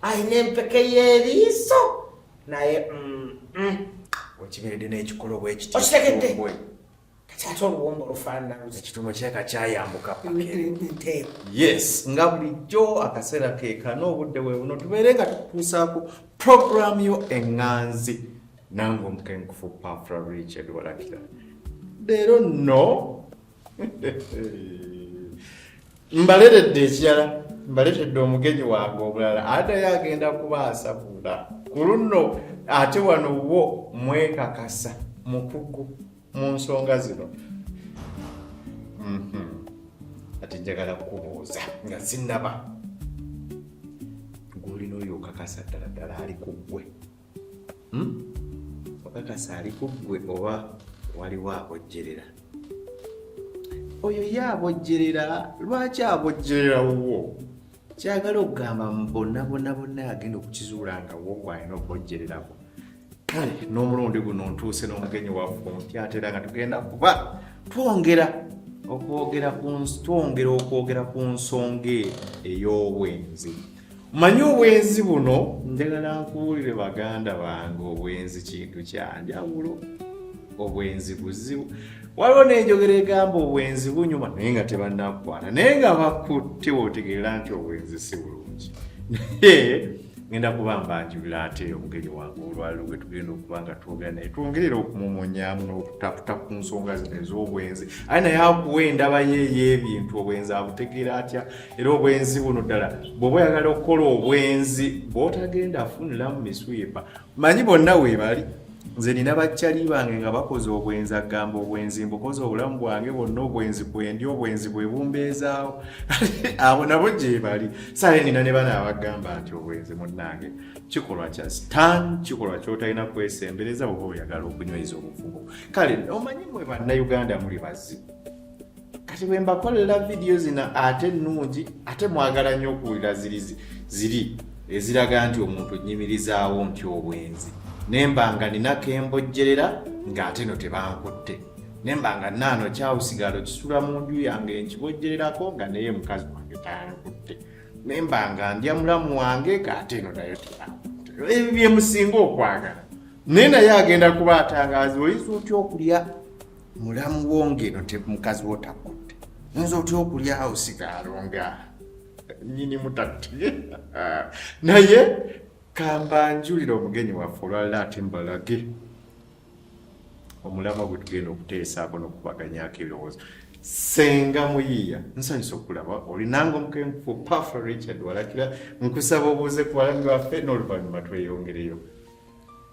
alina empeke y'eriiso naye mm, mm. okiberedde n'ekikolo bwekitegedde kati ate oluwombo olufaananaekitumo kyeka kyayambuka yes nga bulijjo akaseera keeka n'obudde bwe buno tubeere nga tutuusaako puroguramu yo eŋŋanzi nange omukenkufu pafra richard walakira leero no mbaleredde ekirala mbaleredde omugenyi wange omulala adayo agenda kuba asabula ku luno ate wano wo mwekakasa mukugu mu nsonga zino mhm. ati njagala kukubuuza nga sinaba gwolina oyo okakasa ddala ddala ali ku ggwe hmm? okakasa ali ku ggwe oba waliwo abojjerera oyo ye abojjerera lwaki abojjerera wuwo kyagala okugamba mbonabonabona agenda okukizuula nga wo gwalina okubojjererako kale n'omulundi guno ntuuse n'omugenyi waffe omupya atera nga tugenda kuba twongera okwogera ku twongera okwogera ku nsonga ey'obwenzi manyi obwenzi buno njagala nkuwulire baganda bange obwenzi kintu kyanjawulo obwenzi buzibu waliwo nenjogera egamba obwenzi bunyuma naye nga tebanakukwata naye nga bakutte wotegeera nti obwenzi si bulungi naye ngenda kuba mbanjulira ate omugeri wange olwaliro gwe tugenda okuba nga twogera naye twongerera okumumunyamu n'okutaputa ku nsonga zino ez'obwenzi aye naye akuwa endaba ye ey'ebintu obwenzi abutegeera atya era obwenzi buno ddala bwoba oyagala okukola obwenzi bwotagenda afuniramu miswipa manyi bonna webali nze nina bakyali bange nga bakoze obwenzi agamba obwenzi mbukoze obulamu bwange bonna obwenzi bwendi obwenzi bwebumbeezaawo abo nabo gyebali sale nina ne bana abagamba nti obwenzi munnange kikolwa kya stan kikolwa kyotalina kwesembereza oba oyagala okunyweza obufubo kale omanyi mwe bannauganda muli bazibu kati bwe mbakolera vidiyo zino ate ennungi ate mwagala nnyo okuwulira ziri ziri eziraga nti omuntu nnyimirizaawo nti obwenzi nemba nga nina kembojjerera ng'ate no tebankutte nemba nga naano kyawusigalo kisula mu nju yange nkibojjererako nga naye mukazi wange tankutte nemba nga ndya mulamu wange ng'ate no nayo tebankutte ebyo byemusinga okwagala naye naye agenda kuba atangazi oyinza otya okulya mulamu wo ng'eno mukazi wo takudde oyinza otya okulyawo sigaalo nga nyini mutatti naye kambanjulira omugenyi waffe olwalala ate mbalage omulamu gwe tugenda okuteesaako n'okubaganyako ebirowoozo senga muyiiya nsanyusa okulaba olinanga omukenkufu pafa richard walakira nkusaba obuuze ku balami baffe n'oluvannyuma tweyongereyo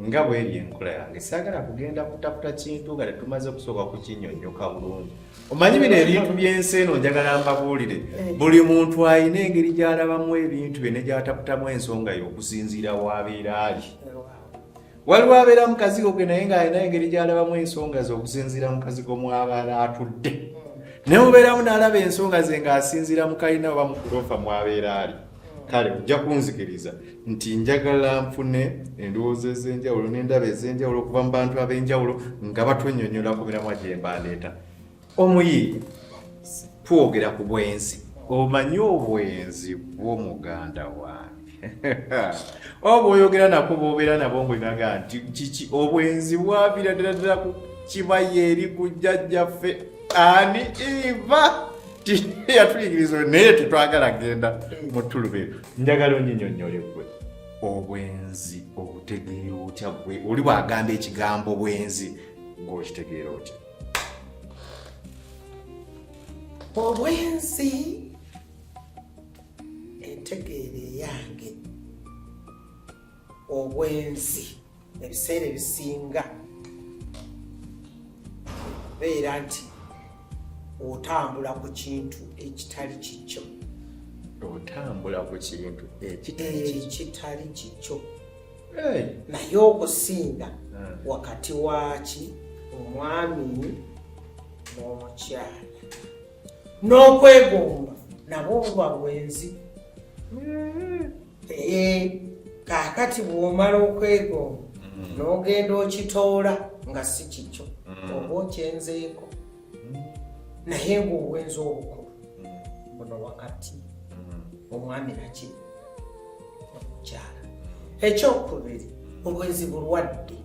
nga bweri enkola yange saagala kugenda kutaputa kintu nga tetumaze okusooka kukinyonyoka bulungi omanyi bino ebintu by'ensi eno njagala mbabuulire eh. buli muntu alina engeri gy'alabamu ebintu bye ne gy'ataputamu ensonga y'okusinziira w'abeera ali waliwo abeera mukazigo ge naye ng'alina engeri gy'alabamu ensonga ze okusinziira mukazigo mw'abaala atudde hmm. ne mubeeramu n'alaba ensonga ze ng'asinziira mu kalina oba mu kuloofa mw'abeera ali kale ojja kunzikiriza nti njagala nfune endowooza ez'enjawulo n'endaba ez'enjawulo okuva mu bantu ab'enjawulo nga batwenyonyola ku miramwa gye mbandeeta omuyi twogera ku bwenzi omanyi obwenzi bwo muganda wange oba oyogera nako bobeera nabo ngaoinaga nti kiki obwenzi bwavira ddala ddala ku kibaye eri ku jjajjaffe ani iva yatuyigiriza oyo naye tetwagala genda mu tulubere njagala onyinyonyole gwe obwenzi obutegeera otya gwe oli bwagamba ekigambo bwenzi gweokitegeera otya obwenzi entegeera eyange obwenzi ebiseera ebisinga beera nti otambula ku kintu ekitali kikyo otambula ku kintu ekitali kikyo naye okusinga ah. wakati waki omwami n'omukyala n'okwegomba nabo obuba bwenzi mm-hmm. naye kakati bwomala okwegomba mm. nogenda okitoola nga si kikyo mm. oba okyenzeeko mm. naye ngaobwenza obukulu buno wakati omwami naki omukyala ekyokubiri obwenzi bulwadde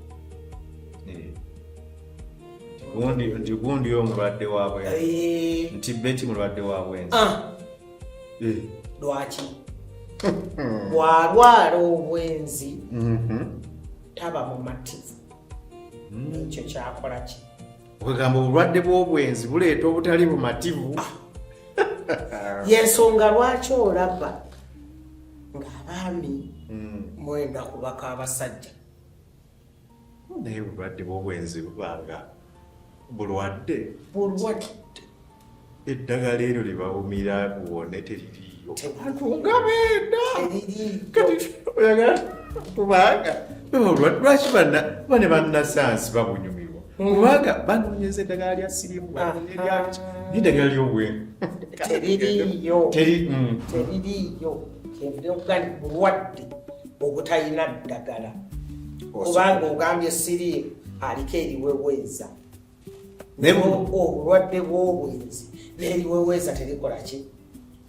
eh. nti gundi omulwadde wabwe eh. nti beti mulwadde wabwenzi ah. eh. lwaki bwalwala obwenzi mhm. taba mumativu hmm. ekyo kyakola ki okugamba obulwadde bw'obwenzi buleeta obutali bumativu ah. yensonga lwaki olaba ng'abaami hmm. mwenda kubaka abasajja naye bulwadde bwobwenzi bubanga bulwadde bulwadde eddagala eryo libawumira buwone teririyo abantu nga benda kati oyagala kubanga olwadde lwaki bana bane banasayansi babunyumirwa hmm. kubanga banonyeza eddagala lya sirimu banonyeryaki neddagala lyobwenzi teririyo teririyo kyenvudde okugandi bulwadde obutalina ddagala kubanga ogambye siriimu aliko eriweweeza obulwadde bw'obwenzi n'eriweweeza terikola ki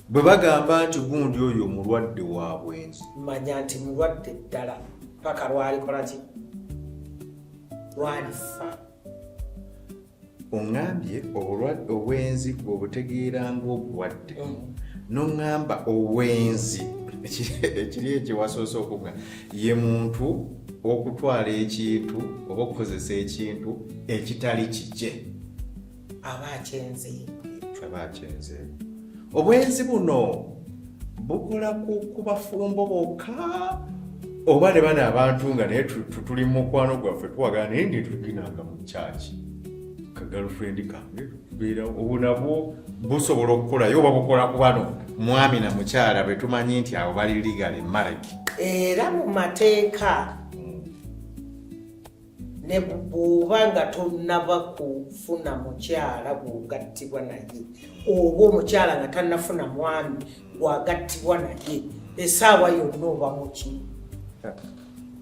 bwe bagamba nti gundi oyo omulwadde wa bwenzi manya nti mulwadde ddala paka lwalikola ki lwalifa ongambye obulwadde obwenzi bwobutegeera ngaobulwadde mm. nongamba obwenzi ekiri ekyewasoose okuga ye muntu okutwala ekintu oba okukozesa ekintu ekitali kikye aba akyenze aba akyenze obwenzi buno bukola ku bafumbo bokka oba ne bana abantu nga naye tuli mu mukwano gwaffe tuwagana naye nti tuginanga mu kyaki ka girlfriend kange tubeera obu nabwo busobola okukolayo oba bukola ku bano mwami na mukyala bwe tumanyi nti abo bali legal marriage era mu mateeka ne bw'oba nga tonnaba kufuna mukyala gw'ogattibwa naye oba omukyala nga tannafuna mwami gw'agattibwa naye esaawa yonna oba muki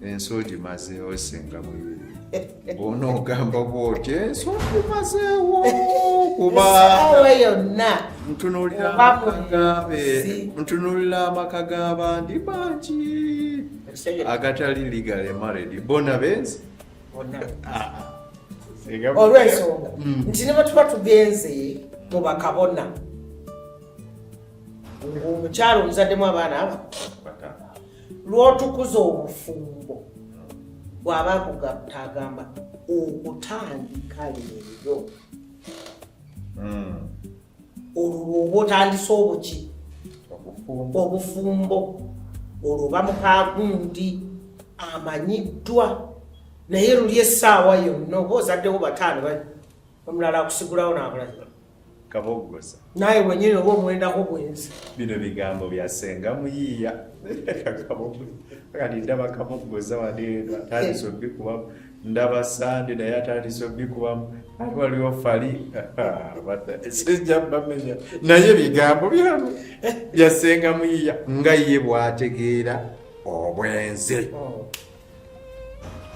ensi ogimazeewo singa mubiri bona ogamba bwoti ensi ogimazeewo kubaesaawa yonna ntunulira amaka g'abandi bangi agatali legally married bona benzi olwensonga mm. nti ne batuba tugenze mu bakabona ngaomukyalo omuzaddemu abaana aba lwotukuza obufumbo bwaba kugatagamba okutandika leero mm. olwo lwoba otandise obuki obufumbo olwo bamukagundi amanyiddwa naye luli essaawa yonna oba ozaddewo bataano omulala akusigulawo nabulaza kaboggoza naye wenyini oba omwendako bwenzi bino bigambo byasenga muyiiya kati ndaba kaboggoza wadeeno atandise obikubamu ndaba sande naye atandise obikubamu ate waliwo fali sijja bamenya naye bigambo byamu eh, byasenga muyiya nga ye bwategeera obwenzi oh.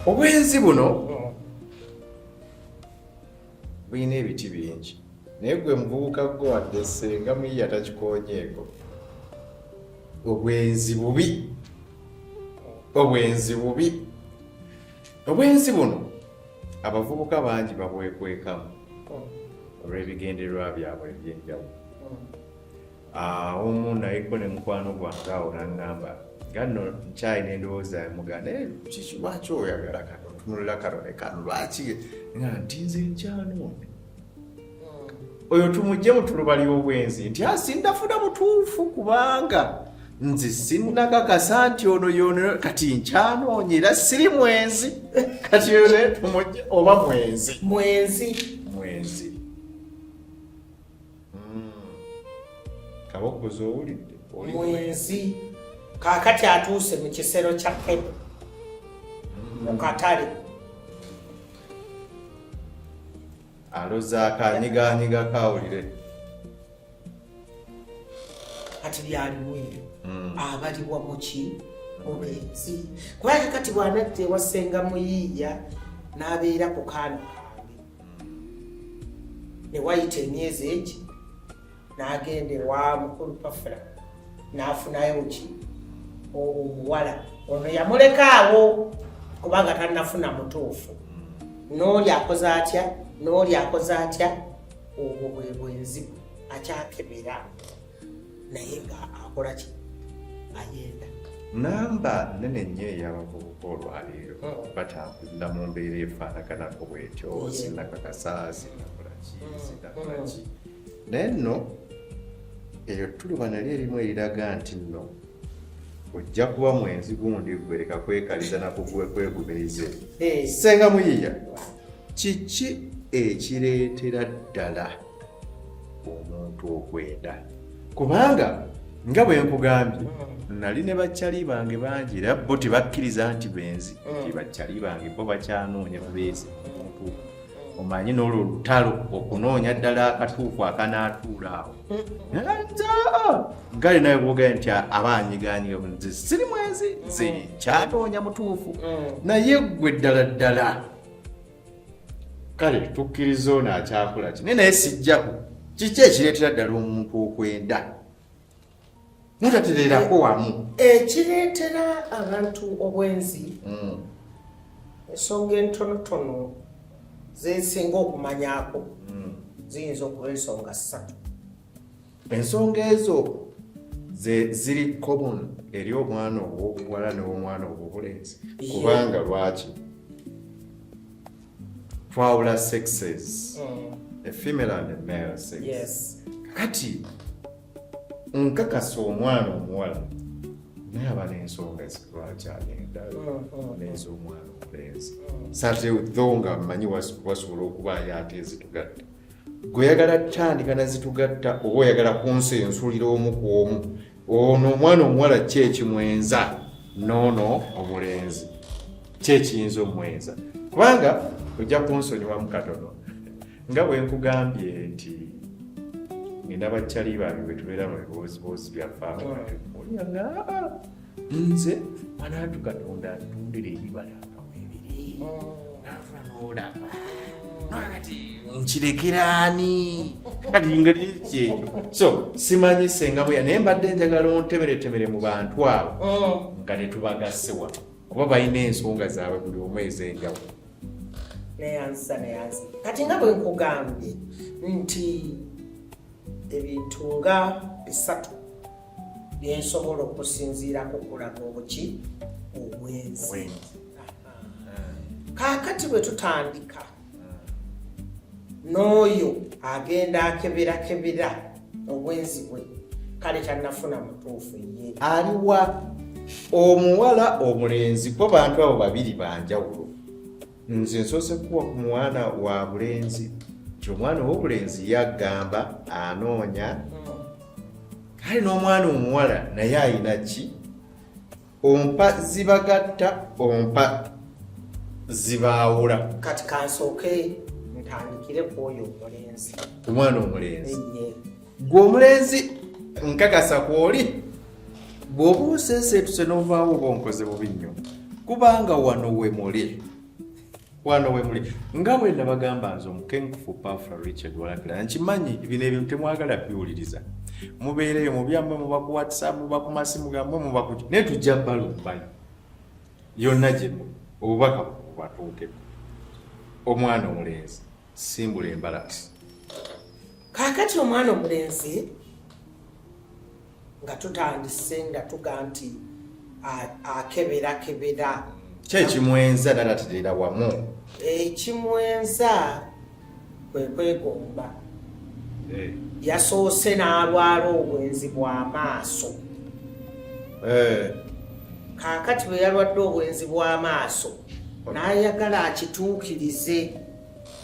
obwenzi buno oh. bulina ebiti bingi naye gwe muvubuka gwe wadde senga muyiya takikonyeeko obwenzi bubi obwenzi bubi obwenzi buno abavubuka bangi babwekwekamu olw'ebigendererwa byabwe ebyenjawulo Ah, omu naye ko ne mukwano gwange awo nangamba nga nno nkyalina endowooza yamuga naye kiki lwaki oyagala kano otunulira kano ne kano lwaki nga nti nze nkyanoono hmm. oyo tumugye mu tuluba ly'obwenzi nti asindafuna ah, mutuufu kubanga nze sinnakakasa nti ono yono kati nkyanoonya era siri mwenzi kati oyo naye tumugye oba mwenzi mwenzi mwenzi hmm. kaboggozi owulidde mwenzi kakati atuuse mu kisero kya kebo hmm. mu katale alozaako anyiganyiga kawulire kati byalimu ebyo hmm. abaliwa muki mubenzi kubanga kati bwanadda ewasenga muyiiya n'abeera ku kaana kange ne wayita emyezi egi n'agenda ewa mukulu pafula n'afunayo ki omuwala ono yamuleka awo kubanga tanafuna mutuufu n'oli akoze atya n'oli akoze atya obwo bwe bwenzi akyakebera naye nga akola ki ayenda namba nene nnyo eyabavubuka olwaleero hmm. batambulira mu mbeera efaanaganako bwetyo sinakakasa sinakolaki hmm. sinakolaki hmm. naye nno eyo tuluba nali erimu eriraga nti nno ojja kuba mwenzi gundi gwereka kwekaliza nakuguwe kwegumirize senga muyiya kiki ekireetera ddala omuntu okwenda kubanga nga bwe nkugambye mm. nali ne bakyali bange bangi era bo tebakkiriza nti benzi mm. bakyali bange bo bakyanoonya bubeezi omuntu omanyi n'olwo olutalo okunoonya ddala akatuufu akanaatuula awo gale nawe bwogae nti abaanyiganyiga nze siri mwenzi nze mm. kyanoonya mutuufu naye ggwe ddala ddala kale tukkiriza ono akyakula ki naye naye sijjaku kiki ekireetera ddala omuntu okwenda mutatereerako wamu ekireetera abantu obwenzi hmm. ensonga entonotono zesinga okumanyako hmm. ziyinza okuba ensonga ssatu ensonga ezo ziri common eri omwana owobuwala newomwana owobulenzi kubanga lwaki twawula sexes mm. efemale and male sex kati nkakasa omwana omuwala naye aba nensonga lwaki agenda neza omwana omulenzi sate udho nga mmanyi wasobola okubaayo ate ezitugadde gwe oyagala tandika nazitugatta oba oyagala kunsi ensulira omu ku omu ono omwana omuwala ki ekimwenza noono omulenzi ki ekiyinza omwenza kubanga ojja kunsonyiwamu katono nga bwe nkugambye nti ngenda bakyali bambi bwe tubeera mu bibooziboozi byaffe abaolinga ah, ah. nze mwanatu katonda ntundira ebibala nga webiri nava nolaba kati nkirekeraani kati ngeri kyekyo so simanyi senga bweya naye mbadde njagala ontemeretemere mu bantu abo oh. nga netubagasse wa kuba balina ensonga zaabwe buli omu ezenjawo neyanzisa neyanzi kati nga bwe nkugambye nti ebintu nga bisatu byensobola okusinziirako okulaga obuki obwenzi kaakati bwe tutandika n'oyo agenda akeberakebera obwenzi bwe kale tanafuna mutuufu ye aliwa omuwala omulenzi kuba bantu abo babiri banjawulo nze nsoose kukuwa ku mwana wa bulenzi nti omwana ow'obulenzi yagamba anoonya kale n'omwana omuwala naye ayina ki ompa zibagatta ompa zibaawula kati kansooke ntandikire ku oyo omulenzi omwana omulenzi gwe omulenzi nkakasa kwoli bw'oba oseeseetuse n'ovaawo oba onkoze bubi nnyo kubanga wano we muli wano we muli nga bwe nabagamba nze omukenkufu pafula richard walakira nkimanyi bino ebintu temwagala biwuliriza mubeereyo mubyamwe muba ku whatsapp muba ku masimu gamwe muba ku naye tujja balumbayo yonna gyemu obubaka bubatuukeko omwana omulenzi simbula embalati kakati omwana omulenzi nga tutandise nga tuga nti akeberakebera kyekimwenza nanaterera wamu ekimwenza kwekwegomba eh. yasoose n'alwala obwenzi bw'amaaso eh. kakati bwe yalwadde obwenzi bw'amaaso n'ayagala akituukirize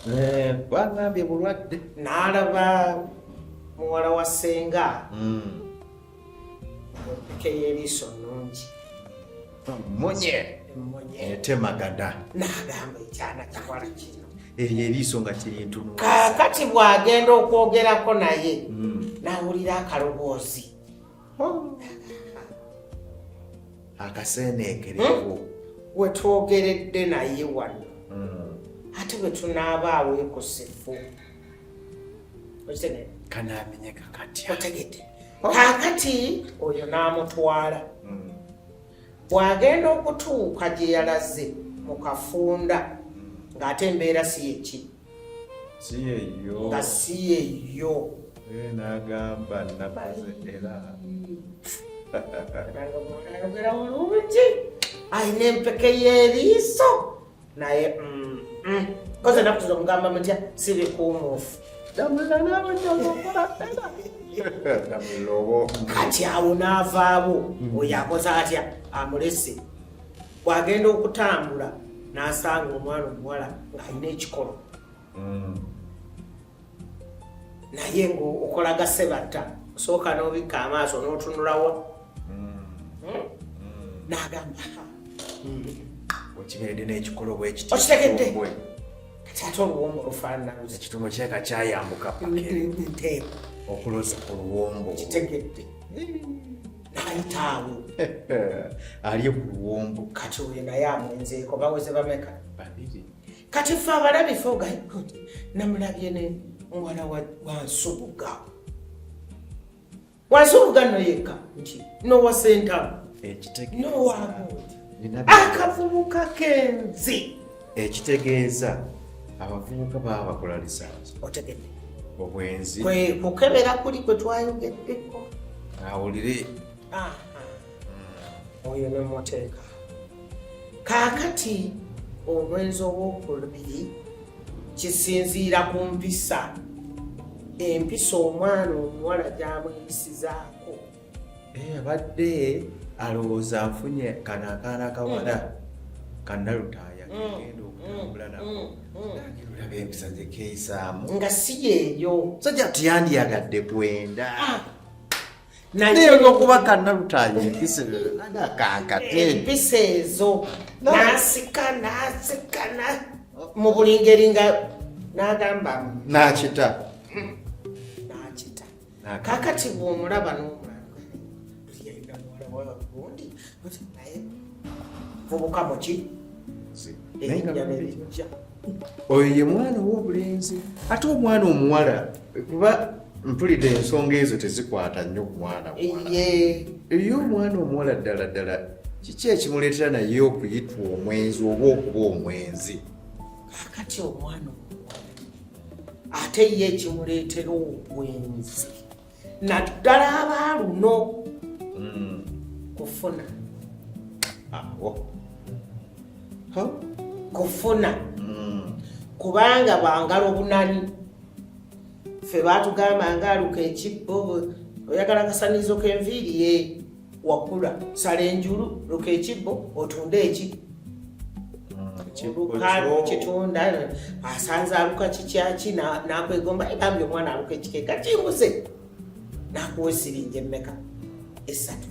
Eh, bangambye bulwadde nalaba muwala wa senga hmm. otekeyo eriiso nungi munye etemagada eh, nagamba ekyana kiwala kino eryo eh, eriiso nga kirintumu kakati bwagenda okwogerako naye hmm. nawulira akaloboozi akaseneekerewo hmm? wetwogeredde naye wano hmm. ate bwetunaaba aweekusifu kanamenyeka katya otegedde kakati oyo n'amutwala hmm. bw'agenda okutuuka gye yalaze mu kafunda ng'ate embeera si yekiri nga si yeyo eh, nagamba nabaze era ayogera bulungi alina empeke y'eriiso naye mm, mm. koze enaku zino mugamba mutya sibikuumuufu kati awo n'avaawo oyo akoze atya amulese bw'agenda okutambula n'asanga omwana omuwala ng'alina ekikolo mm. naye ng'okola gasebatta osooka n'obikka amaaso n'otunulawa mm. hmm? n'agamba okiberedde n'ekikolo bwekiti okitegedde kati ate oluwombo olufaanana ekitumo kyeka kyayambuka pakeokuloza oluwombo kitegedde ayitaawo alye ku luwombo kati oyo naye amwenzeeko bawoze bameka babiri kati fe abalabi fe ogayikod namulabye ne muwala wansubuga wansubuga noyeka nti nowa sentamu nowamu akavubuka kenzi ekitegeeza abavubuka baba bakola lisansi otegedde obwenzi kukebera kuli kwe twayogeddeko awulire oyo ne muteeka kaakati obwenzi obwokulubiri kisinziira ku mpisa empisa omwana omuwala gyamweyisizaako Eh, abadde alowooza afunye kano akaana kawala mm. kanalutaaya mm. kegenda okutambula mm. nakolaba empisa zekeisaamu nga si yeeyo sajja tuyandiyagadde kwenda ah. naye olwokuba kanalutaaya empisa ezo nasika nasikana mu buli ngeri nga nagamba nakita kakati bwomulaba n'omulabgundi naye vubuka muki oyo ye mwana ow'obulenzi ate omwana omuwala kuba mpulidde ensonga ezo tezikwata nnyo ku mwana eyo omwana omuwala ddala ddala kiki ekimuleetera naye okuyitwa omwenzi oba okuba omwenzi kakati omwana ate ye ekimuleetera obwenzi naddala abaaluno hmm. kufuna awo kufuna hmm. kubanga bwangala obunani ffe baatugamba ngaaluka ekibbo oyagala kasanizo kenviiri ye wakula sala enjulu luka ekibbo otunde eki kitunda asanze aluka kikyaki nakwegomba egambye omwana aluka ekikeeka kimbuze nakuwa esiringi emmeka esatu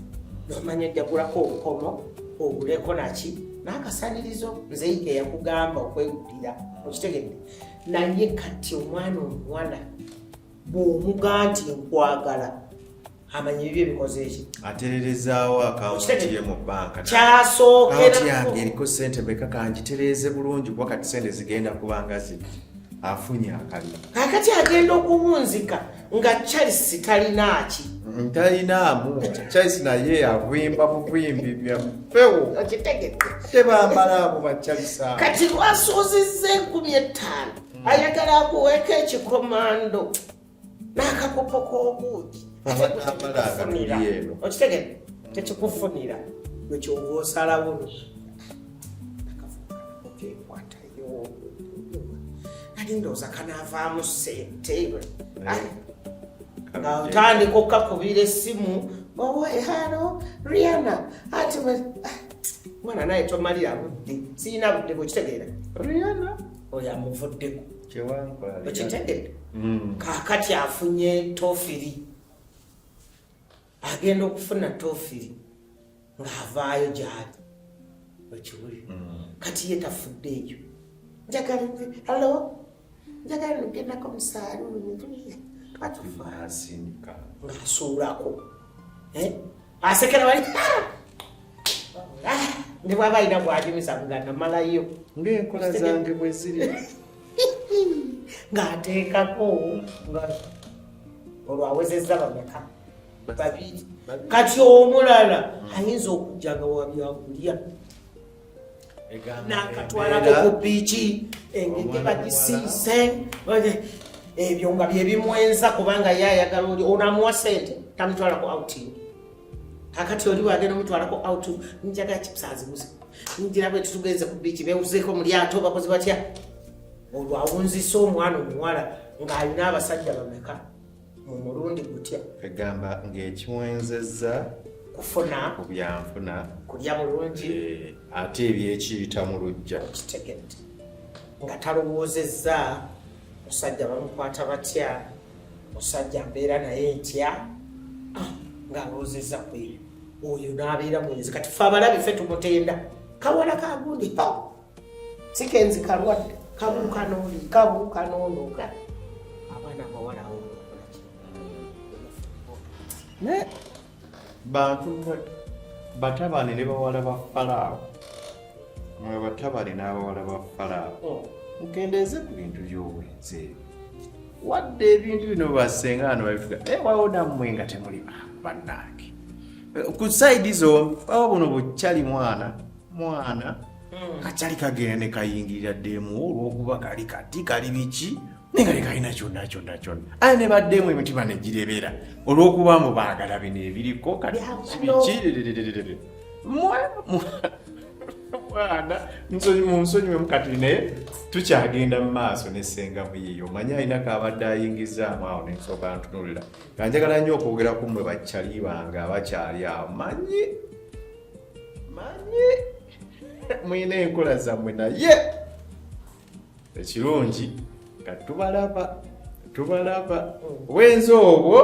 nomanya ojjagulako obukomo oguleko naki nakasanirizo nzeike yakugamba okwegulira okitegedde naye kati omwana omuwala bwomuga nti nkwagala amanyi bibyo bikoze eki atererezaawo akawunti ye mu banka kyasookera yange eriko sente meka kangitereeze bulungi kuba kati sente zigenda kubanga zino afunye akaliro kakati agenda okuwunzika nga charles talinaaki mm, talinaamu charles naye avimba buvimbi byampewo tebambala abo bacharles abo kati lwasuuzizza enkumi ettaano mm. ayagala akuweeka ekikomando n'akakopo k'obuugi okitegere tekikufunira wekyova osalawo ndowooza kanaavaamu sente nga otandika okukakubira essimu owe halo riana ati ah, mwana naye tomalira budde siyina budde bwekitegeera riana oyo amuvuddeko okitegedde mm. kakati afunye tofiri agenda okufuna tofiri ng'avaayo gyali okiwuli mm. kati ye tafudde eyo njagala hallo njagala nogendako musaaluuni twatufaasi ng'asuulako eh? asekera wali ne bwaba alina gwajumisa kugana malayo ngaenkola zange bweziri ng'ateekako nga olwo awezezza bameka babiri kati omulala ayinza okujja nga wabyakulya nakatwalako ku biiki engege bagisiise ebyo nga byebimwenza kubanga ye ayagala oli onamuwa sente tamutwalako outing kakati oli wagenda omutwalako out njaga kisazibuzi njira bwe tutugenze ku biiki bewuzeeko mu lyato bakozi batya olwawunzisa omwana omuwala ng'alina abasajja bameka mu mulundi gutya egamba ng'ekiwenzezza kufuna ku byanfuna kulya bulungi eh, ate ebyekiyita mu lujja kitegedde nga talowoozezza musajja bamukwata batya musajja mbeera naye ntya ah, ng'alowoozezza kweyo oyo n'abeera mwenzi kati fe abalabi fe tumutenda kawala kagundi sikenzi kalwadde kabuuka n'oli kabuuka n'olooga abaana abawala awo naye bantu batabane ne bawala ba falaawo mwe batabane n'abawala ba falaawo oh. mukendeeze ku bintu by'obwenzi ebyo wadde ebintu bino basenga ano babifuga naye wawo nammwe nga temuli bannaange ku saidi zombi baba buno bukyali mwana mwana hmm. kakyali kagenda ne kayingirira ddeemu olw'okuba kali kati kali biki naye nga lekalina kyonna kyonna kyonna aye ne baddeemu emitima ne girebera olw'okuba mu baagala bino ebiriko kati biki mwana munsonyiwe mukati naye tukyagenda mu maaso ne senga muyiyo manye alina kaabadde ayingizaamu awo nensoka ntunulira kanjagala nnyo okwogera ku mmwe bakyali bange abakyali awo manyi manyi mulina enkola zammwe naye ekirungi nga tubalaba tubalaba wenza obwo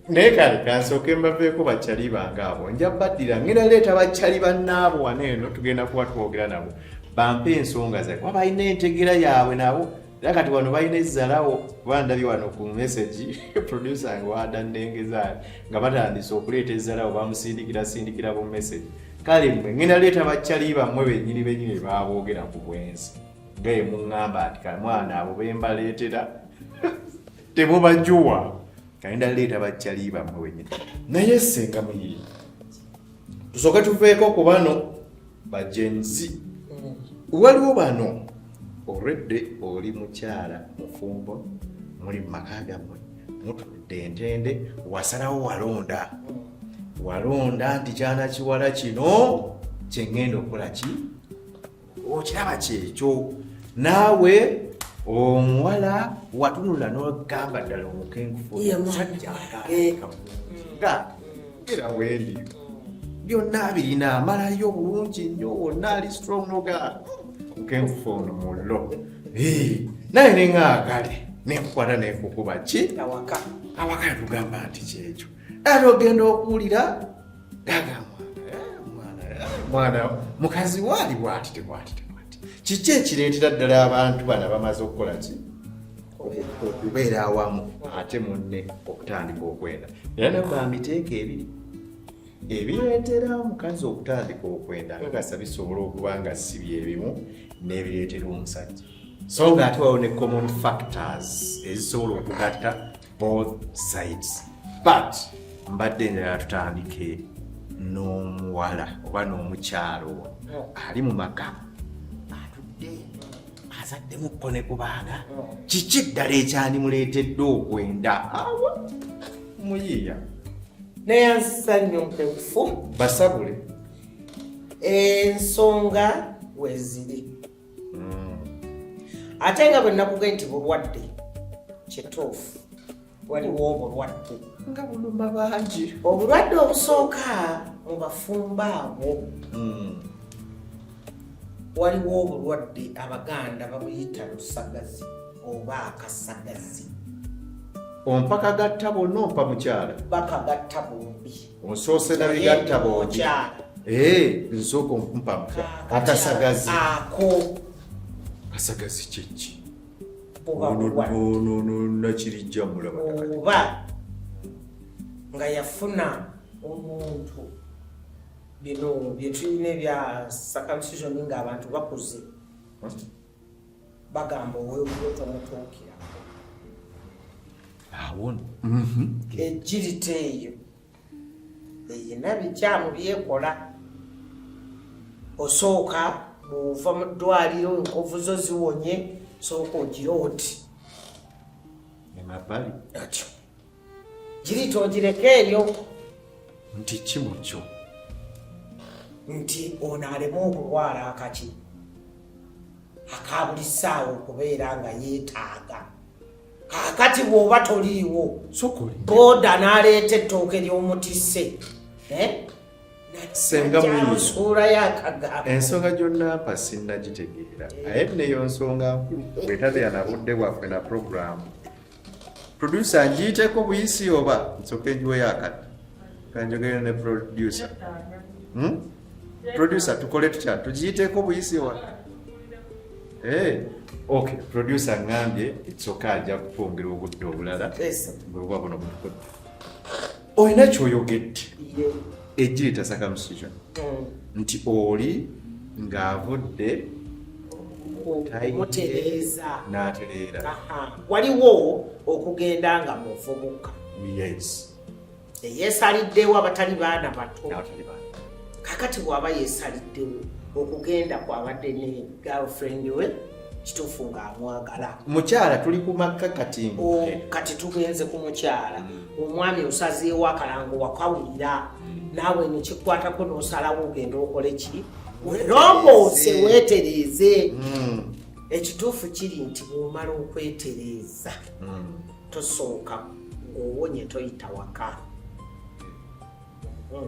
naye kale kansooke mbaveeko bakyali bange abo nja baddira ngenda leeta bakyali bannaabo wano eno tugenda kuba twogera nabo bampe ensonga zae kuba balina entegera yaabwe nabo era kati wano balina ezzalawo bandabye wano ku message producer wange wadandengezaali nga batandise okuleeta ezzalawo bamusindikira sindikira bu message kale mwe ngenda leeta baccali bammwe benyini benyini baboogera ku bwensi gaye muŋŋamba nti kamwana abo bembaleetera temubajuwa kagenda leeta baccali bammwe benyini naye senga muyiri tusooke tuveeko ku bano bajenzi mm. waliwo bano olwedde oli mukyala mufumbo muli mumaka gammwe mutudde entende wasalawo walonda mm. walonda nti kyana kiwala kino kyengenda okukola ki okiraba kyekyo naawe omuwala watunula nogamba ddala omukenkumusajjaaga era wendi byonna birina amalayo obulungi nnyo wonna ali strong noga omukenkufu ono mullo naye nengaagale nenkukwata nenkukuba ki awaka awaka tugamba nti kyekyo era ogenda okuwulira gaga mwana eh, mwana eh, mukazi waali bwati tebwati tebwati kiki ekireetera ddala abantu bana bamaze okukola ki okubeera awamu ate munne okutandika okwenda era nabba miteeka ebiri ebireetera omukazi okutandika okwenda kakasa bisobola okuba nga si byebimu n'ebireetera omusajja so nga ate wawo ne common factors ezisobola okugatta both sides but mbadde njagala tutandike n'omuwala oba n'omukyalo ali mu maka atudde azaddemu ko ne kubaana kiki ddala ekyandimuleetedde okwenda awo muyiiya naye ansa nnyo mpeufu basabule ensonga weziri hmm. ate nga bwe nakuga nti bulwadde kituufu waliwo obulwadde nga buluma bangi obulwadde obusooka mu bafumba abo hmm. waliwo obulwadde abaganda babuyita lusagazi oba akasagazi ompakagatta bonna ompa mukyala bakagatta bombi Onsoose na bigatta bogi. Eh, nsoko mpa mpa. Akasagazi. Ako. Kasagazi kyeki. Boba boba. No no no na kirijja mulaba. Boba. Nga yafuna omuntu. Bino byetulina ebya circumcision nga abantu bakuze. Hmm? bagamba owewuwo tomutuukirako awon mhm. ejjirita eyo eyina bikyamu byekola osooka bwova mu ddwaliro enkovu zo ziwonye sooka ogira oti atyo Kirito ogireka eyo nti ki mu kyo nti ono aleme okulwala akaki akabuli ssaawa okubeera nga yeetaaga kakati bw'oba toliiwo booda n'aleeta ettooke ly'omutisse eh? ensonga gyonnampa sinnagitegeera naye neyo nsonga nkulu bwetabeera na budde bwaffe na puroguramu Producer njiiteko buyisi oba nsooke njiweyo akati kanjogere ne producer hmm? producer tukole tutya tugiyiteeko buyisi wa hey. Eh. ok producer ngambye ekyoka ajja kukwongera obudde obulala bwebuba buno butukodde olina kyoyogedde egireta circumcision mm. nti oli ng'avudde mutereeza n'atereera waliwo okugenda nga muvubuka eyeesaliddewo abatali baana bato kakati bw'aba yeesaliddewo okugenda kwabadde ne girlfriend we kituufu ng'amwagala mukyala tuli ku makka kati oh, kati tugenze ku mukyala mm. omwami osazeewo akalango wakawulira mm. naawe nekikwatako n'osalawo ogenda okole ki werongoose weetereeze mm. ekituufu kiri nti bwomala okwetereeza tosooka ng'owonye toyita waka hmm.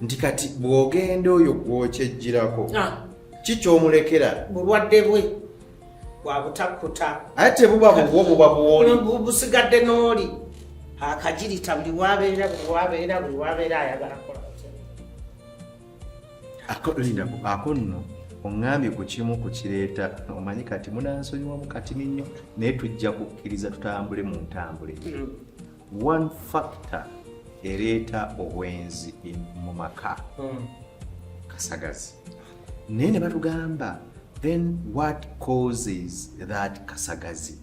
nti kati bw'ogenda oyo gwokyejjirako ah. ki kyomulekera bulwadde bwe bwabutakuta aye tebuba bubwo buba buwoli busigadde n'oli akagirita buli wabeera buli wabeera buli wabeera ayagala kola lindako ako nno oŋŋambye ku kimu ku kireeta omanyi kati munansonyiwamu katini nnyo naye tujja kukkiriza tutambule mu ntambule hmm. one factor ereeta obwenzi mu maka hmm. kasagazi naye ne batugamba then what causes that kasagazi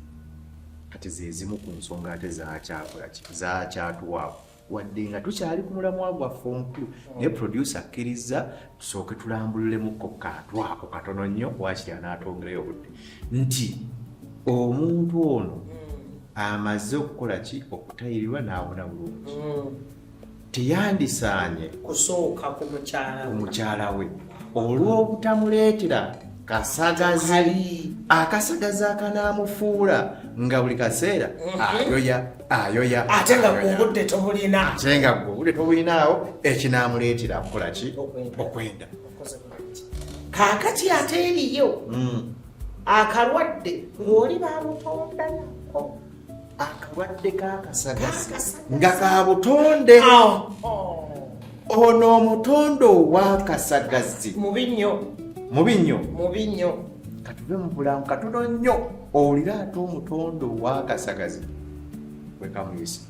kati zezimu ku nsonga ate zakyakulaki zakyatuwaawo wadde nga tukyali ku mulamwa gwaffe omukulu naye producer akkirizza tusooke tulambululemukko katwako katono nnyo wakiri anaatongerayo obudde nti omuntu ono amaze okukola ki okutayirirwa n'awona bulungi mm. teyandisaanye kusooka ku mukyala we olw'obutamuleetera kasagazi akasagazi akanaamufuula nga buli kaseera mhm. ayoya ayoya ate nga gweobudde tobulina ate nga gweobudde tobulinawo ekinaamuleetera kukola ki okwenda kaakati ate eriyo mm. akalwadde ng'oli bamutonda nako akalwadde kakasagasi nga kabutonde oh, oh. ono omutonde owakasagazi mubi nnyo mubi nnyo mubi nnyo katuve mu bulamu katono nnyo owulire ate omutonde owakasagazi wekamuyisa